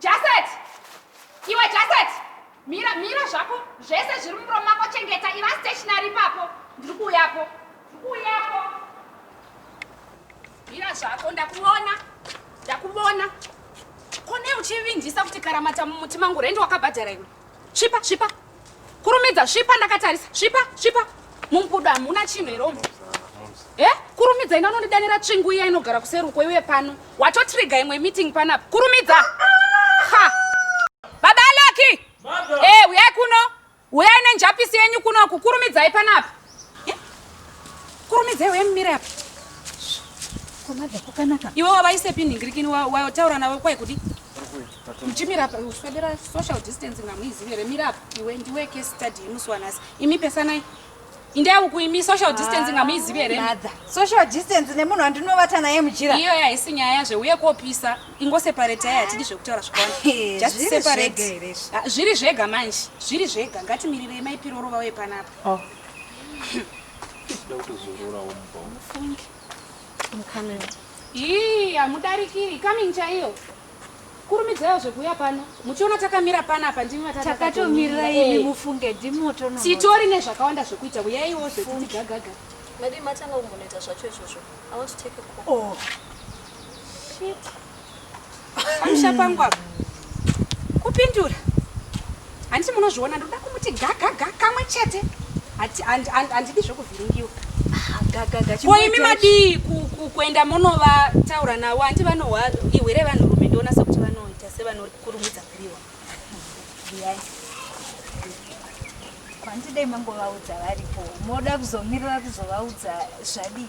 Jaset! Iwe Jaset! Mira, mira zvako. Zvese zviri mumuromo mako chengeta. Iva stationary ipapo. Ndiri kuuyapo. Ndiri kuuyapo. Mira zvako ndakuona. Ndakuona. Kone uchivinjisa kuti karamata mumuti mangu rendi wakabhadhara iwe. Svipa, svipa. Kurumidza, svipa ndakatarisa. Svipa, svipa. Mumbudo hamuna chinhu here umu? Eh? Kurumidza ina unondidanira tsvingu iya inogara kuseruko iwe pano. Watotriga imwe meeting panapa. Kurumidza. Ha. Baba Alaki. Eh, uyai kuno. Uyai nenjapisi yenyu kuno kukurumidzai panapa. Kurumidzei uye mumire apa. Komadza kwakanaka. Iwe wavaise pini ngirikini wataura navo kwai kudi. Muchimira apa uswedera social distancing hamuizivi here mira apa iwe ndiwe case study yemusi wanhasi imi pesanai indai uku imi social distancing ah, hamuizivi here social distance nemunhu andinovata naye mujira iyo yaisi nyaya yazve uye kopisa ingoseparetai hatidi zvekutaura zvakawanda just separate ah, zviri zvega manje zviri zvega ngatimirirei maipirorova uye panapa Oh. Ii, hamudarikiri coming chaiyo kurumidzaiwo zvekuuya pano muchiona takamira pana apa ndimi vatakatomirira imi eh. mufunge ndimoto titori nezvakawanda zvekuita uyaiwo zvekuti gagaga madii matanga kumbonoita zvacho izvozvo i want to take a call oh. Shit. Pamusha pangu apa. Kupindura. Handiti munozviona ndoda kumuti gagaga kamwe chete. Handidi zvekuvhiringiwa. Ah, gagaga. Ko imi madii kuenda monovataura navo hanti vanohwa ihwere vanhurume ndionasa kuti vanoita sevanokurumidza kuriwa. Biyai. Kwandidei mangovaudza varipo. Moda kuzomirira kuzovaudza zvadii?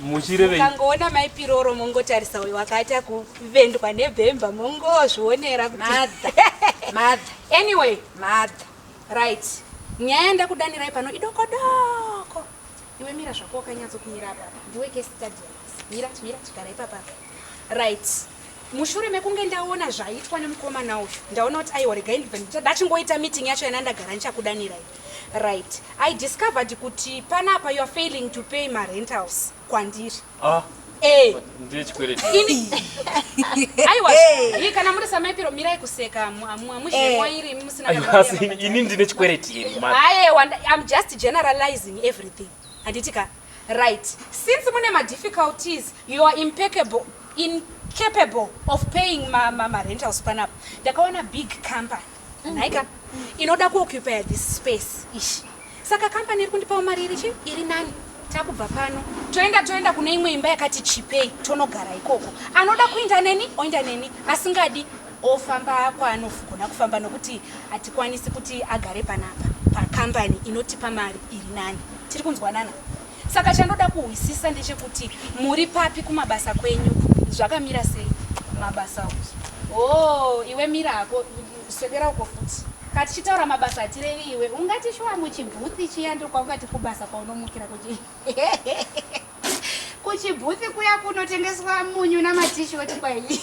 muchirevei mukangoona mai piroro mongotarisa uyo wakaita kuvendwa nebhemba mongozvionera kuti madha madha anyway madha right nyaya ndakudanirai pano idokodoko iwe mira zvako wakanyatso kumira apa ndiwe ke stadium mira mira chigara ipapa right mushure mekunge ndaona zvaitwa nemukomana uyu ndaona kuti aiwa regai ndibva ndachingoita meeting yacho yana ndagara ndichakudanirai Right. I discovered kuti panapa you are failing to pay ma rentals kwandiri. Ah. Eh. Ndiye chikweleti. Ini. Aiwa. Hey. Kana muri samaipiro mirai kuseka mwamushi hey. Eh. mwairi musina kana. Aiwa asi ini ndine chikweleti here mama. Aye wanda I'm just generalizing everything. Handiti ka. Right. Since mune ma difficulties you are impeccable incapable of paying ma ma, ma rentals panapa. Ndakaona big company. Naika inoda kuoccupy this space ish. Saka company iri kundipawo mari iri chi iri nani? Takubva pano toenda toenda kune imwe imba yakati chipei tonogara ikoko. Anoda kuinda neni oinda neni asingadi ofamba kwaanogona kufamba nokuti hatikwanisi kuti agare panapa pacompany inotipa mari iri nani. Tiri kunzwanana? Saka chandoda kuhwisisa ndechekuti muri papi kumabasa kwenyu zvakamira sei mabasa o oh, iwe mira hako swedera uko futi ka tichitaura mabasa atirevi iwe ungati shuwa muchibhuthi chiya ndokwaungati kubasa kwaunomukira kuti kuchibhuthi kuya kunotengeswa munyu namatishoti kwaii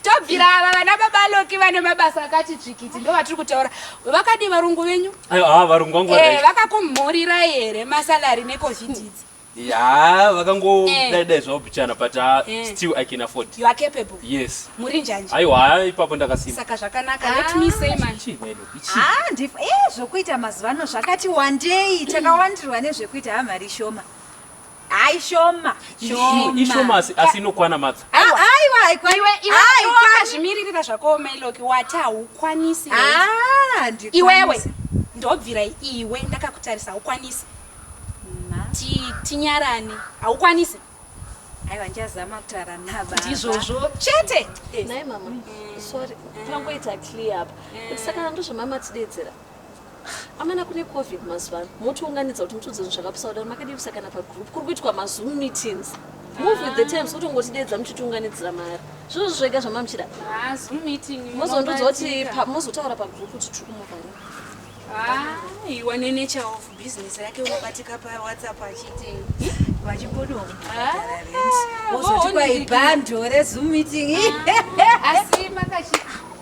tobvira ava vana baba loki vane mabasa akati dzvikiti ndo vatiri kutaura vakadii varungu venyu ah, varungu vangu eh, vakakumhurira here masalari necovid idzi ya vakangodaidai eh. zvavo bichana but ah, eh. still i can afford you are capable yes muri njani aiwa ipapo ndakasimba saka zvakanaka ah. let me say man ah ndif eh zvokuita mazuva ano zvakati wandei takawandirwa nezvekuita hamari shoma Ai shoma. Shoma. Ishoma asi asi inokwana matsa. Aiwa aikwa iwe iwe aiwa zvimiririra zvako Meloki wati haukwanisi. Ah ndikwanisi. Iwewe ndobvira iwe ndakakutarisa haukwanisi. Ti tinyarane haukwanisi. Aiwa ndichazama kutaura nababa. Ndizvozvo chete. Nai mama. Sorry. Tangoita clear apa. Saka ndozvamama tidedzera. Amana kune covid mazuva ano motiunganidza kuti mutiudze zvinhu zvakapusa kudaro makadivisa kana pagroup kuri kuitwa mazoom meetings move with the times kutongotideedza muchitiunganidzira mari zvinozvo zvega zvamamuchida ah, mozondiudza kuti mozotaura pagroup kuti tiri kumuvhara ah, iwa nenature of business yake unobatika pawhatsapp achiti vachipodoa ah, ozoti kwaibhando rezoom meeting asi makachii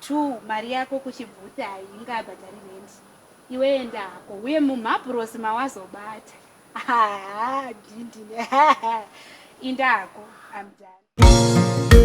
True mari yako kuchibvuti hainga bhadhari rent iwe enda hako uye mumhabhurosi mawazobata haa dhindini haa inda hako I'm done.